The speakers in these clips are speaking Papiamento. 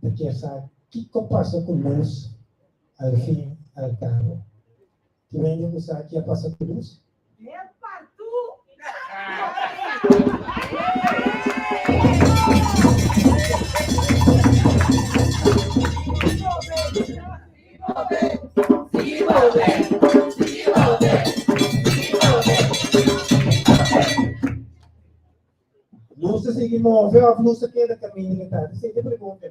ta kier sa kiko pasa ku nos al fin i al kabo. Tin hende ku sa ke a pasa ku nos? Lus ta sigui move òf lus ta keda kaminda mi tabata hasi e pregunta?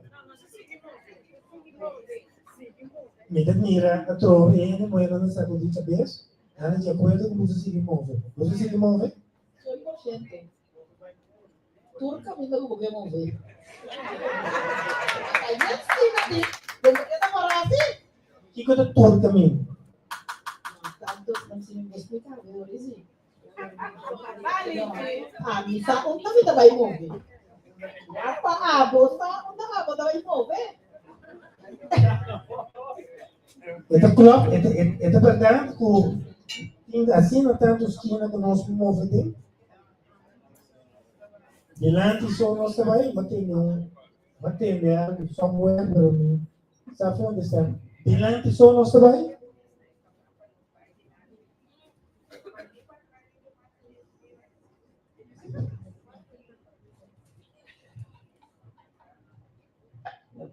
Mi ta mira atrobe e hende muhé nan ta sakudí cabes, nan ta di akuerdo ku lus ta sigui move. Lus ta sigui move? Sien por siento. Tur kaminda ku bo ke move. Bai bien stil na tin, den ta keda pará hasi. Kiko ta tur kaminda? Tantu nan sin mi por spliká, bo a bisa. Mami, sa un tasi ta bai move. Pa abo, sa un ta abo ta bai move. Esta klop, esta, esta verdad ku tin así na tanto esquina ku nos move te. Delante so nos ta bai, ma tende un, ma tende algo somewhere, pero mi, sa fonde sa. Delante so nos ta bai.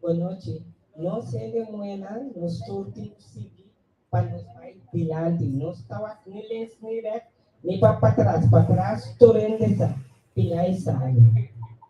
Buenachi. Nos hende muenan nos tur tin ku sigui pa nos bai dilanti. Nos ta wak ni lens ni rèt ni pa patras. Patras tur hende sa pina e sabi.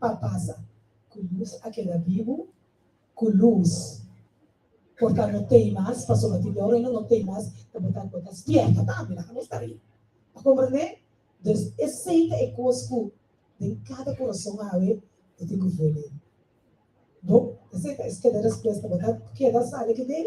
pa pasa ku lus a keda bibu, ku lus por ta no t'ei mas, pasobra tin dor reino no t'ei mas, ta bo ta bo ta spièrta tambe, laga nos ta ri. Ta komprendé? Dus esei ta e kos ku den kada kurason awe bo tin ku vuelve. Bo, esei ta e skeda respuesta, bo ta keda sali aki den.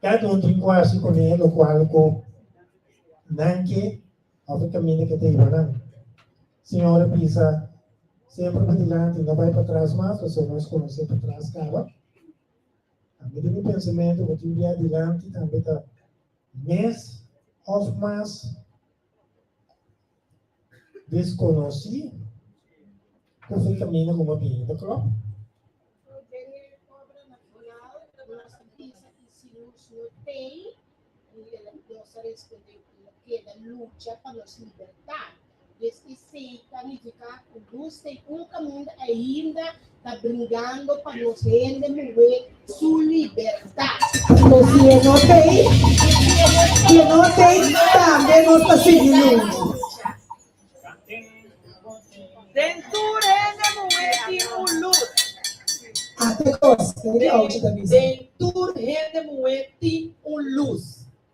Ta den di kuasi ku ne lo kual ku nan ke òf e kaminda ke ta hiba nan. Siñor a bisa, Semper bai dilanti, no bai patras mas, pasobra nos konosé patras kaba. Ami den mi pensamentu bo tin biaha dilanti tambe ta mes òf mas. Desconoci cu fue camino como bien de clop. Queda lucha pa nos libertad. Desde seca nifica cu luz tem un caminda ainda ta bringando pa nos hende muhé su libertat. Nos tiene no tey, tiene no tey, tambe nos ta sigui lunchi. Den tur hende muhé tin un lus. Ate cos, den tur hende muhé tin un lus.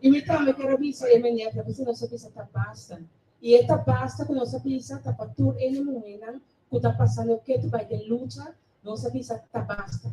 Y mi tambe ker a bisa e mene ta bisa nos a bisa ta basta. Y e ta basta cu nos a bisa ta pa tur ene muhernan cu ta pasando oke tu bay den lucha, nos a bisa ta basta.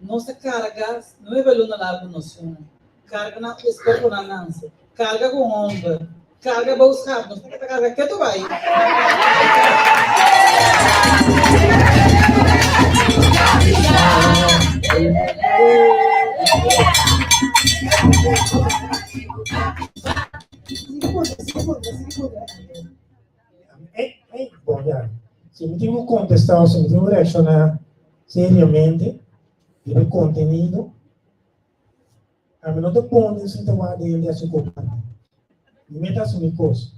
Nos a carga nuebe luna largu nos hun, carga nan cu e scorponan nance, carga cu homber, carga bou sap, nos ta carga ke tu bay? Siga purga, siga purga, siga purga. Si mi tin ku kontestá o si mi tin ku reakshoná seriamente riba e kontenido, ami no ta pone e sita wak di hende a si kopante. Mi meta hasi mi kos.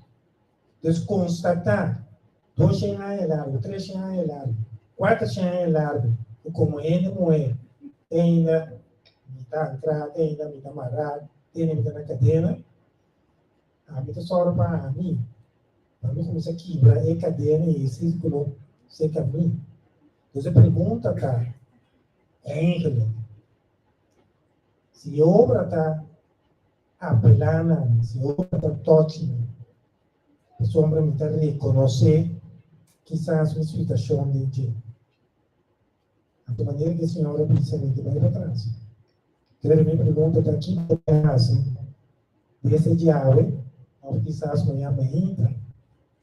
Entonces, konstatá dos shen aña largu, tres shen aña largu, kuater shen aña largu ku komo hende muhé te ainda mi ta ankrá, te ainda mi ta mará, te ainda mi ta na kadena, Ami ta sòru pa ami, pa mi kuminsá kibra e kadena i e sírkulo serka mi. Pues e pregunta ta enkele, Si Yehova ta apelá na mi, si Yehova ta tòchi mi, pasobra mi ta rekonosé kisas mi situashon den dje. Anto manera ki e señora precisamente bai patras. Pero mi pregunta ta ki bo ta hasi di esta djabe of kisas no ya mainta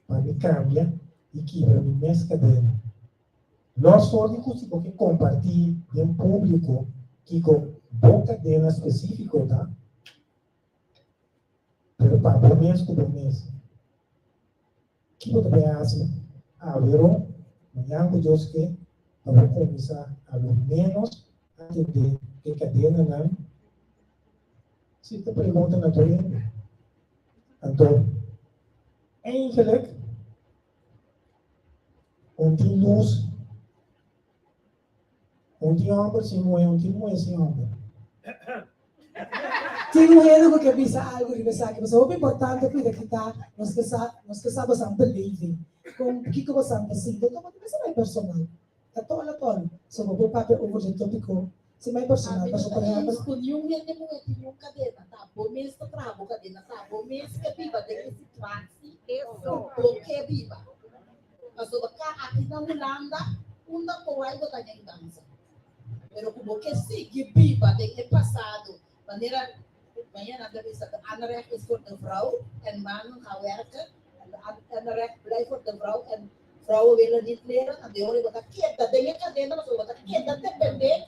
pa mi cambia y kibra mi mes cadena. Los for di cu si bo ke comparti den publico kico bo cadena specifico ta, pero pa bo mes cu bo mes. Kico ta bay haci Averón? Mañan cu Dios ke ta bay cominsá alo menos a tende e cadenanan. Si e pregunta na duende. Anto, eindelijk, un tin luz. Un tin homber sin muhe, un tin muhe sin homber. Tin muhenan cu ke bisa algu riba esaki, pasobra hopi importante cuida kita, nos ke sa, nos ke sa bosan ta leve, con kico bosan ta sinti, tuma ta bisa mai personal, ta tol a tol, so bo por papia over dje topico sin mai personal, pasobra por ehempel. Cu niun hende muhe tin niun cadena, ta bo mes ta traha bo cadena, ta bo mes ke biba den e situaci cu bo ke biba. Paso bo ta aki na Hulanda unda kowai bo ta den dansa. Pero ku bo ke sigui biba den e pasado manera Diana ta bisa De Anrecht is voor de vrouw en mannen gaan werken en de anrecht blijft voor de vrouw en vrouwen willen niet leren, andehoren bo ta keda den e kadena pasobra bo ta keda depende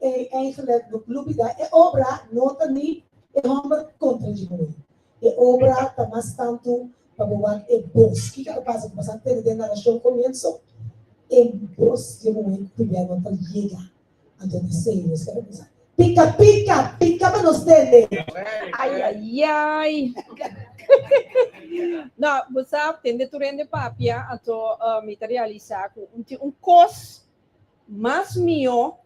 E eigenlijk no klubi da e obra no ta ni e homber kontra dje muhé. E obra ta mas tantu pa bo wak e bos. Kiko a ta pasa ku bo sa tende den narashon komienso? E bos dje muhé tubia no ta yega. Anto ta serio eske bo pensa. Pika pika pika pa nos tende. Ay ay ay No, bo sa tende tur hende papia, anto mi ta realisa ku tin un kos Mas mihó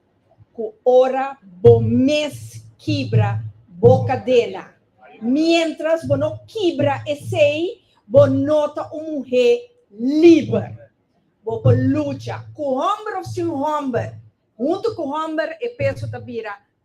ku ora bo mes kibra bo kadena. Miéntras bo no kibra esei, bo no ta un muhé liber. Bo por lucha, ku hòmber òf sin hòmber. Huntu ku hòmber e peso ta bira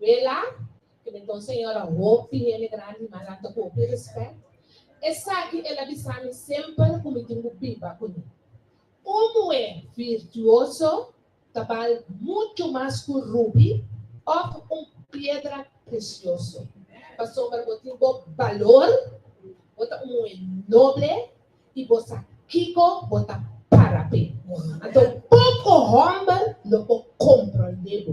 Wela, ke mi ta un señora hoop di hende grandi, ma nan ta ku hopi respet. Esaki el a bisa mi semper ku mi tin ku biba kuné. Un muhé virtuoso ta bal muchu mas ku rubi òf un piedra presioso. Pasobra bo tin bo balor, bo ta un muhé noble i bo sa kiko bo ta para p'e. Anto poko hòmber lo por komprondé bo.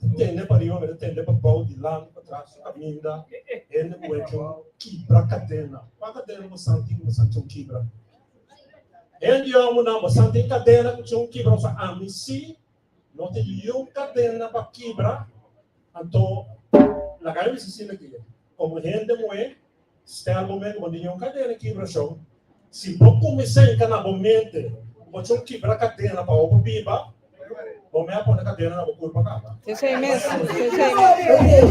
Ku tende pariba mester tende pa bou dilanti, patras i kaminda. Hende ku hecho kibra kadena. Kua kadena bo san tin ku bo san con kibra? Hende yòmber nan, bo san tin kadena ku con kibra? Bo sa, ami sí. No tin niun kadena pa kibra. Anto, laga mi bisa asina ke. Como hende muhé, stèl bo mente bo dint'e un kadena kibrashon. Si bo kuminsá enganá bo mente ku bo chon kibra kadena pa hopi biba, bo mei a pone kadena na bo kurpa kaba. Esei mes, esei mes.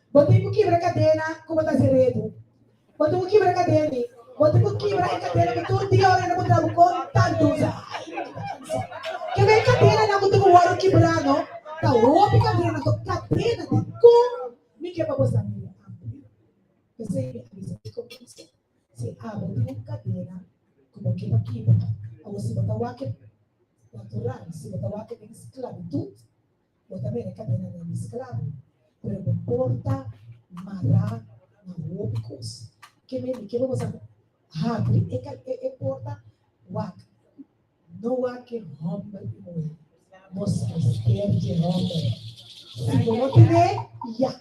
Bo tin cu kibra cadena cu bo ta haci rebu. Bo tin cu kibra cadena y bo tin cu kibra e cadena cu tur dia ora nan bo traha bo conta luz. Ay, mi ta cansa. Ke bo e cadenanan cu tin cu worde kibra no? Ta hopi cadenanan to. Cadena di con? Mi ke pa bo sa miri amplia. P'esey mi a bisa bo con kisa. Si abo tin un cadena cu bo ke pa kibra, awo si bo ta wak e natural, si bo ta wak e den sclavitud, bo ta bira e kadena den di sklabo, pero bo por ta mará na hopi kos. Ke mende ke bo mester habri e porta wak, no wak e hòmber i muhé, mos mester di hòmber. Si bo no tin e, ya.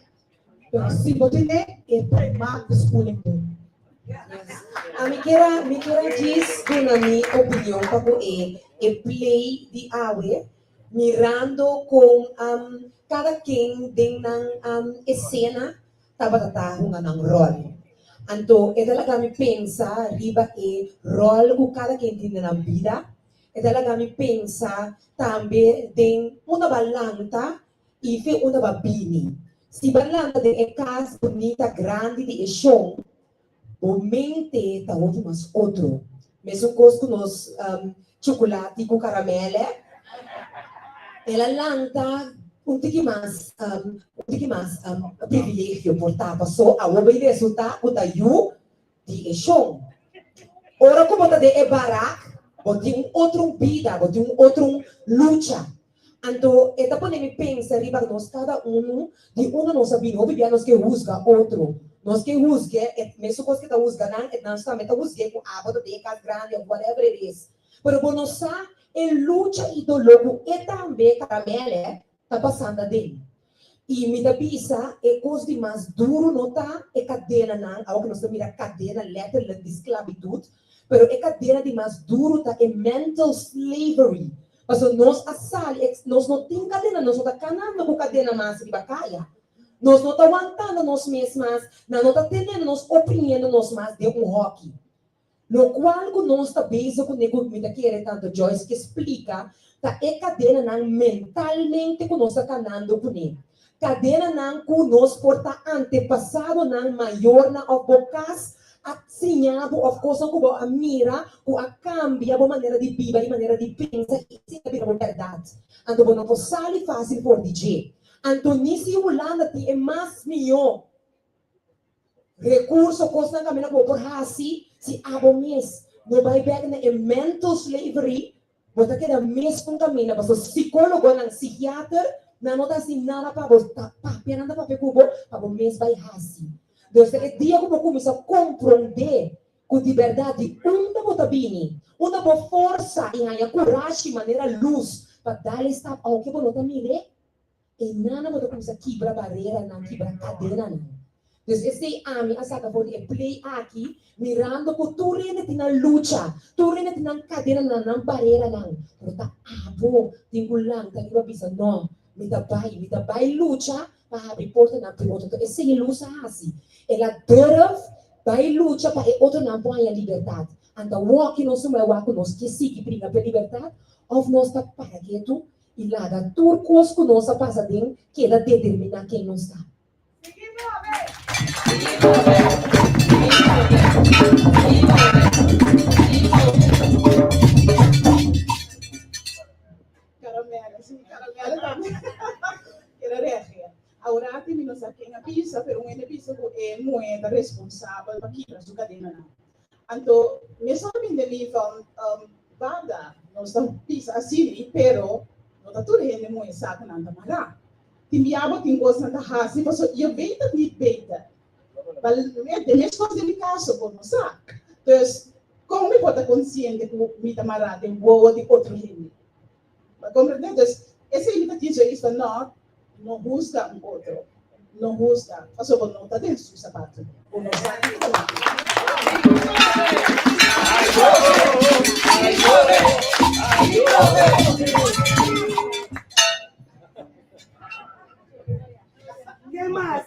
Pero si bo tene e prema di schooling bo. A mi kier a mi kier a djis duna mi opinion pa ku e e play di awe mirando kon am kada ken den nan am esena tabata ta hunga nan rol. Anto e ta laga mi pensa riba e rol ku kada ken tin den nan bida, e ta laga mi pensa tambe den un ta balanta i fe un taba bini. Si bo a lanta den e cas bunita grandi di e shon, bo mente ta hopi mas otro. Mesun cos cu nos chocolati cu caramel e. El a lanta un tiki mas un tiki mas privilegio por tapa. So, awor bay resulta cu ta yu di e shon. Ora ku bo ta den e barak, bo tin un otrun bida, bo tin un otrun lucha. Anto e ta pone mi pensa riba ku nos kada unu di unda nos a bini. Hopi bia nos ke husga otro. Nos ke husg'é e mesun kos ku e ta husga nan, e nan tambe ta husg'é ku abo ta den e kas grandi òf whatever it is. Pero bo no sa e lucha i doló ku e tambe ta. Tambe al'é ta basando aden. I mi ta bisa e kos di mas duru no ta e kadenanan, awo ku nos ta mira kadena letterlijk di sklabitut, pero e kadena di mas duru ta e mental slavery, pasobra nos a sali e, nos no tin kadena, nos no ta kanando ku kadena mas riba kaya, nos no ta wantando nos mes mas, nan no ta tenendo nos, oprimiendo nos mas den un hòki. Locual cu nos ta bezig cu Nego mi ta kere Tante Joyce ke splica ta e cadenanan mentalmente cu nos ta tanando cune. Cadenanan cu nos por ta antepasadonan mayornan of bo cas a siñabo of cosnan cu bo a mira cu a cambia bo manera di biba y manera di pensa y esey ta bira bo berdad. Anto bo no por sali facil for di dje. Anto ni si Hulanda tin e mas miyo. Recurso, Cosnan caminda cu bo por haci si abo mes no bay bek na e mental slavery, bo ta keda meskun caminda, pasobra psicologonan, psihiater nan no ta haci nada pa bo, ta papia nan ta papia cu bo pa bo mes bay haci. Nos ta e dia cu bo cuminsa compronde cu di berdad di unda bo ta bini, unda bo forsa y haya curashi manera luz pa dale stap aunke bo no ta mir'e. E nana bo ta kumsa kibra bareranan, kibra kadenanan. Dus esei ami a saka for di e play aki, mirando ku tur hende tin nan lucha, tur hende tin nan kadenanan, nan bareranan, pero ta abo tin ku lanta riba bisa, No, mi ta bai, mi ta bai lucha pa habri portanan pa e otro. Enton esei e lus a hasi. El a durf bai lucha pa e otronan por haña libertat. Anta wòkino suma e wak ku nos ke sigui briga p'e libertat òf nos ta para ketu i laga tur kos ku nos a pasa den keda determiná ken nos ta. Aurati mi no sa ken a bisa, pero un hende bisa ku e muhé ta responsabel pa kibra su kadenanan. Anto mes ora binde mi van, Um, barda, nos ta bisa asini, pero no ta tur hende muhé sa ku nan ta mará. Tin bia bo tin kos nan ta hasi paso yo beta ku mi beta. Ba met e mes kos den mi kaso, bo no sa. Dus, kon mi por ta konsiente ku mi ta mará den wowo di otro hende? Ta comprende? Dus esei mi ta kier dje Isla Nort, no husga un otro, no husga, pasobra no ta den su sapatu. Bo no sa kiko ta mari. Ke mas?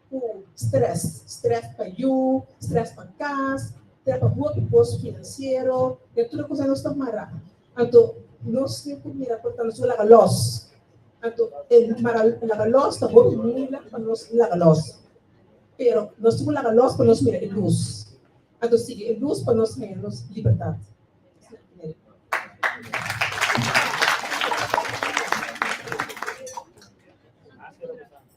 ku strès. Strès pa yu, strès pa kas, strès pa hopi kos finansiero, e tur e kos nos ta mara. Anto nos tin ku mira por ta nos ku laga lòs. Anto e mara laga lòs ta hopi mila pa nos laga lòs. Pero nos tin ku laga lòs pa nos mira e lus. Anto sigui e lus pa nos haña nos libertat.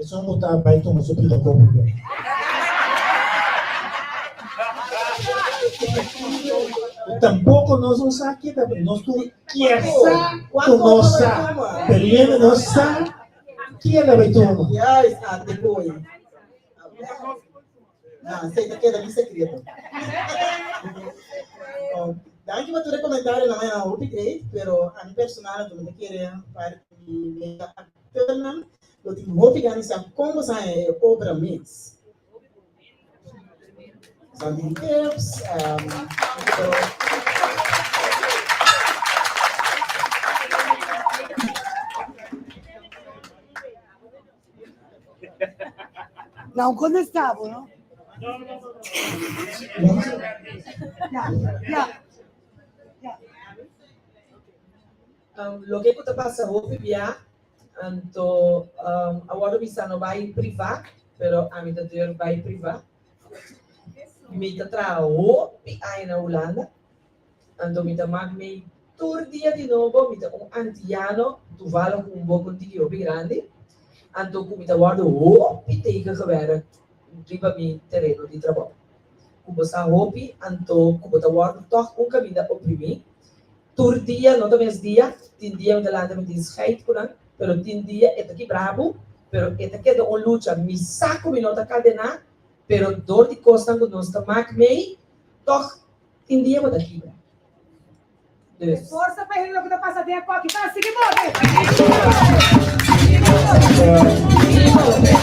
Esun ku ta bai tuma su pida kopu be. I tampoko nos no sa kita be. Nos tur kier sa ku nos sa, pero yo inda no sa kier ta bai tuma. Turnam lo tin hopi gana sa kon bo sa e obra mes. Sa tin tips en Nan ko nan sta bo no. Loke ku ta pasa hopi bia, anto awor mi sa no bai privá, pero ami ta tur bai privá. Mi ta traha hopi aña na Hulanda, anto mi ta mak mi tur dia di nobo, mi ta un antiano, tuvalo ku un bok un tiki hopi grandi, anto ku mi ta wòrdu hopi teken gewerk riba mi tereno di trabou. Ku bo sa hopi, anto ku bo ta wòrdu tòg un kaminda oprimí. Tur dia no ta mes dia, tin dia mi ta lanta mi tin scheid cu nan, pero tin dia e ta ki brabu, pero e ta keda un lucha mi sa cu mi no ta cadena, pero door di cosnan cu nos ta maak mei, toch tin dia bo ta kibra. Deur. Forsa pa hende loke ta pasa den acu aki ta sigi bo den. Sigi bo den.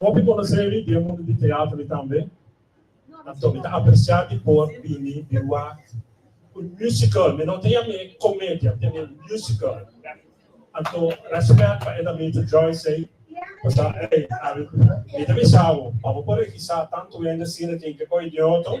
Hopi konoseri di e mundu di teatro i tambe aktor mi ta apresiá di por bini di wak un musical, mi no ta yama e komedia, mi ta yama e musical. Anto rèspèt pa Edamita Joyce ei por sa ei Ari mi ta bisa bo pa bo por regisá tantu hende asina tin ke koi di oto.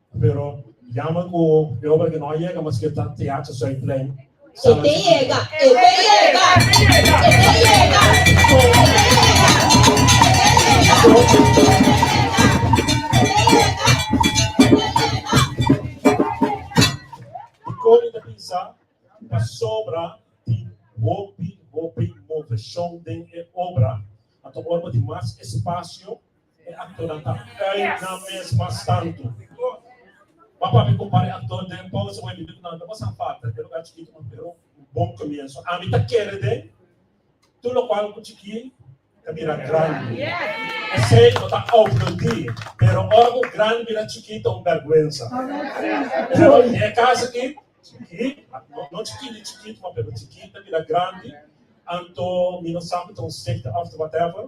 Pero yama ku e obra ke no a yega maske ta Teacha Zuidplein E te yega, e te yega, e te yega, Dikon i ta bisa pasobra tin hopi hopi moveshon den e obra a ta ora bo tin mas espasio E aktornan ta kai nan mes mas tantu. M'a papia ku para e aktor den Paus Away Bibit nan no por safata den lugá chikitu un pero un bon komienso. Ami ta kere den tur lokual ku chikí ta bira grandi. Esei no ta oplodí, pero ora ku grandi bira chikí ta un bèrgwensa. Pero den e kas aki, chikí, no chikí ni chikitu, m'a pero chikí ta bira grandi, anto mi no sa ku ta un sekta òf ta whatever.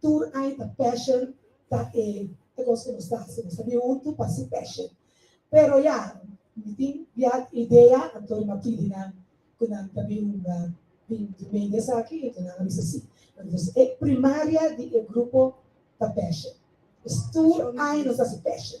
Tur ai ta passion ta e e cos cu nos ta haci. Nos ta bin hunto pa haci passion. Pero ya, mi tin biaha idea anto mi a pidi nan cu nan ta bin bin di medio esaki enton nan a bisa si. Entonces e primaria di e grupo ta passion. Tur ai nos ta haci passion.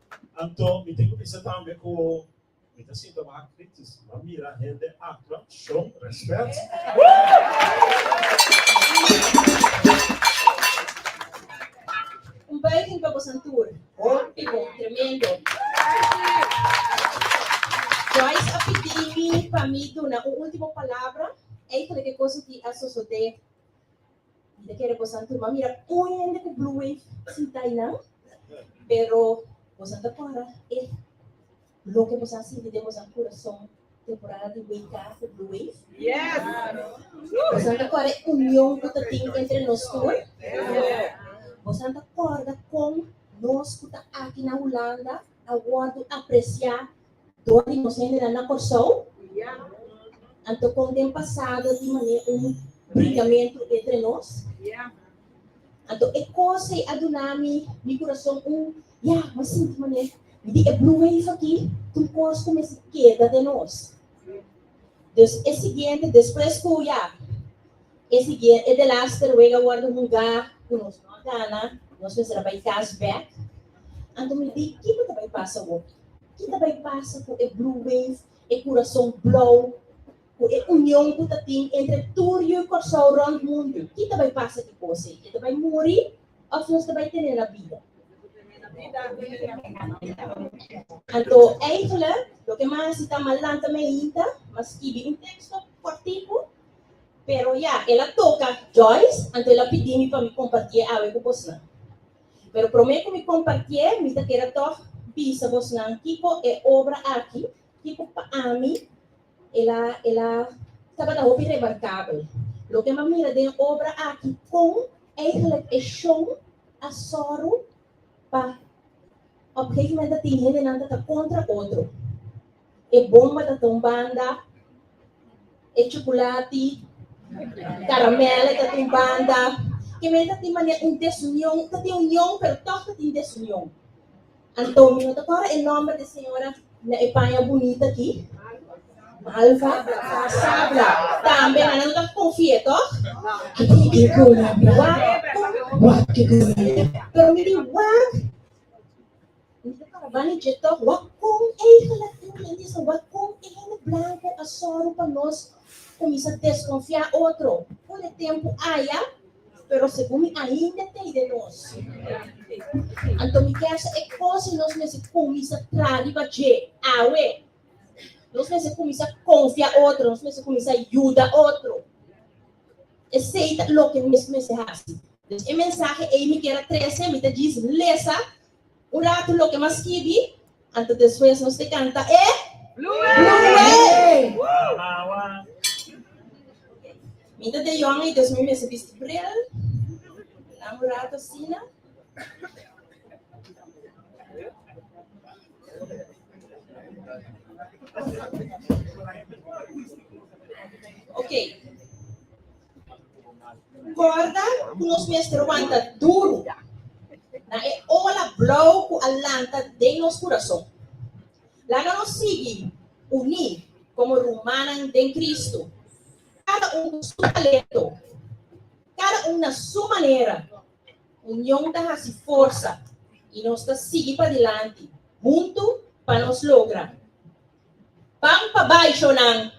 Anto mi tin ku bisa tambe ku mi ta sinta baha kritis. M'a mira hende aktua shon rèspèt. Un buiging pa bosan tur. Hopi bon. Tremendo. Joyce a pidi mi pa mi duna un ultimo palabra entre ke kos di a sosodé Mi ta kere bosan tur, ma mira kon hende ku Blue Wave sinta einan, pero bosan ta kora e loke bosan sinti den bosan kurason temporada di WK ku Blue Wave? Bosan ta kora e union ku ta tin entre nos tur? Bosan ta kòrda kon nos ku ta aki na Hulanda a wòrdu apresiá Dor di nos hendenan na Kòrsou? Anto kon den pasado tin manera un brigamentu entre nos? Anto e kos ei a duna mi mi kurason un ya mi sinti manera mi di e blue wave aki tur kos kuminsha keda den nos. Dus e siguiente despues ku ya. E siguié e delaste ruega a wordo hungá ku nos no a gana, nos mester a bai kas bèk. Anto mi di kiko ta bai pasa hopi. Ki ta bai pasa ku e Blue Wave, e kurason blou, ku e union ku ta tin entre tur yu i Kòrsou rònt mundu? Ki ta bai pasa di kos ei? E ta bai muri òf nos ta bai tene nan bida? Anto Eifele, loke mas i ta, ma lanta me hinta, ma skibi un teksto kòrtiku. Pero ya, el a toka Joyce, anto el a pidi mi pa mi kompartié awe ku bosnan. Pero promé ku mi kompartié, mi ta kere tòg bisa bosnan kiko e obra aki, kiko pa ami el a el a tabata hopi remarkabel. Loke mi a mira den e obra aki, kon eigelik e shon a sòru pa op gegemoment a tin hendenan ta ta kontra otro. e bomba ta ta un banda, e chukulati, karamel e ta ta un banda, ke mene ta tin mane un desunion, ta tin union pero tog ta tin desunion. Anto mi no ta kòrda e nòmber di señora na e paña bunita aki, Malva, Sabla, tambe nan a no ta konfi'é tog, anto mi ko la mi wak, wak ke ko la mi, pero mi di wak. Mani dje tok, wak kon eigen latin men di esei, wak kon e hende blanko a sòru pa nos kuminsá deskonfiá otro. Un e tempu aya, pero segun mi ainda t'ei den nos. Anto mi kèsa e kos nos mester kuminsá traha riba dje awe. Nos mester kuminsá konfia otro, nos mester kuminsá yuda otro. Esei ta loke nos mester hasi. Entonces e mensahe ei mi kier a trese, mi ta djis lesa. Un ratu loke mas skibi, anto despues nos te kanta e Mi ta den yonga y despues mi mester bisti bril, nan un ratu asina. Okay. Corda cu nos mester wanta duru na e ola blauw cu a lanta den nos curason. Laga nos sigui uní como rumannan den Cristo, cada un cu su talento, cada un na su manera. Union ta haci forsa y nos ta sigui padilanti huntu pa nos logra. Ban pa baisho nan.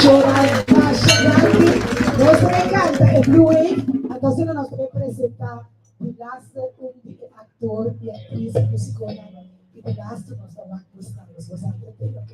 Shora Basha Grandi. Nos ta e canta e Blue Wave, antoces nos ta e presenta di laster un di e actor y actriz musiconan di di laster nos ta wak busca los. Nos a entreten, ok?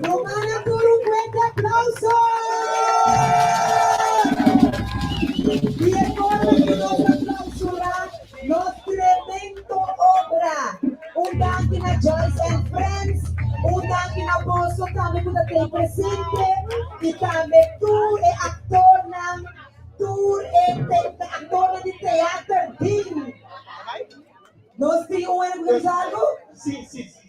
Nos manda tur un fuerte aplauso y e forma cu nos ta clausura nos tremendo obra. Un danki na Joyce and Friends, un danki na boso tambe cu ta den presente y tambe tur e actornan, tur e actornan di Theater Ding. Nos tin un hermosal cu.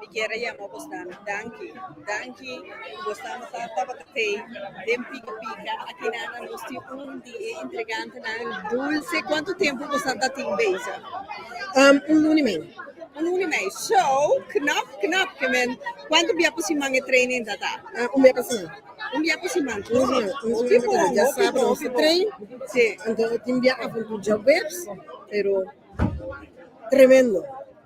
Mi kier a yama bos dame danki, danki ku bos ta masa tabata te den Pika Pika. Akina nan nos tin un di e intrigantenan dulce. Kuantu tempu bos a tatin beza? Um un luna i mei. Un luna i mei. So, knap, knap ke men. Kuantu bia pa siman e training ta ta? Um un bia pa siman. Un bia pa siman. Hopi bon, hopi bon. Dia sabado nos ta train. Si. Anto tin bia avuntu djaweps, pero tremendo.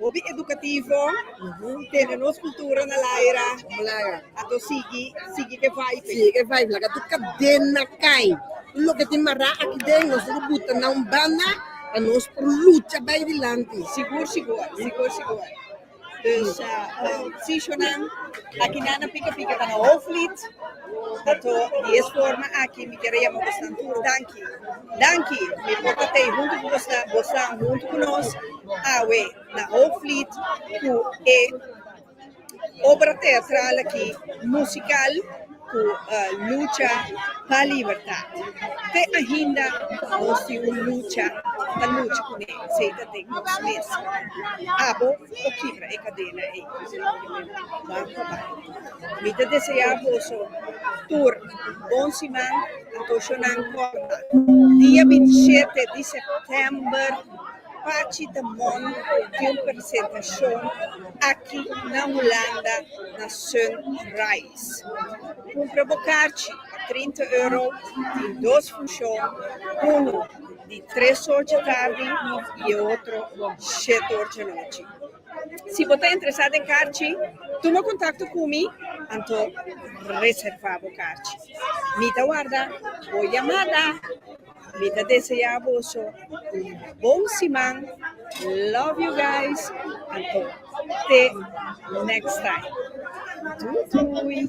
Hopi edukativo tene nos kultura na laira ato sigui sigui ke vibe sigui ke vibe laka tur kadena kai tur loke tin mará aki den nos tin ke buta na un banda pa nos por lucha bai dilanti sigur sigur sigur sigur dus sishonan aki nan na pika pika ta na hoofdlied ato di es forma aki mi kere yama bosan tur danki danki mi por ta tei huntu ku bosan bosan huntu ku nos. Awe na Hoofdvliet ku e obra teatral aki musikal ku lucha pa libertat. Te ainda nos tin un lucha pa lucha kuné, seda den nos mes. Abo por kibra e kadena ei. Banco bai. Mi ta desea boso tur bon siman, antoishonan kòrta. Dia binti i shete di sèptèmber. Pachi ta mon di un persentashon aki na Hulanda na Sunrise. Kumpra bo karchi pa trinta euro, tin dos funshon, unu di tres or dje tardi i e otro shet or dje nochi. Si bo ta interesá den karchi, tuma kontakto ku mi, anto reservá bo karchi. Mi ta warda bo yamada. Mi ta desea boso un bon siman love you guys anto te next time doei doei.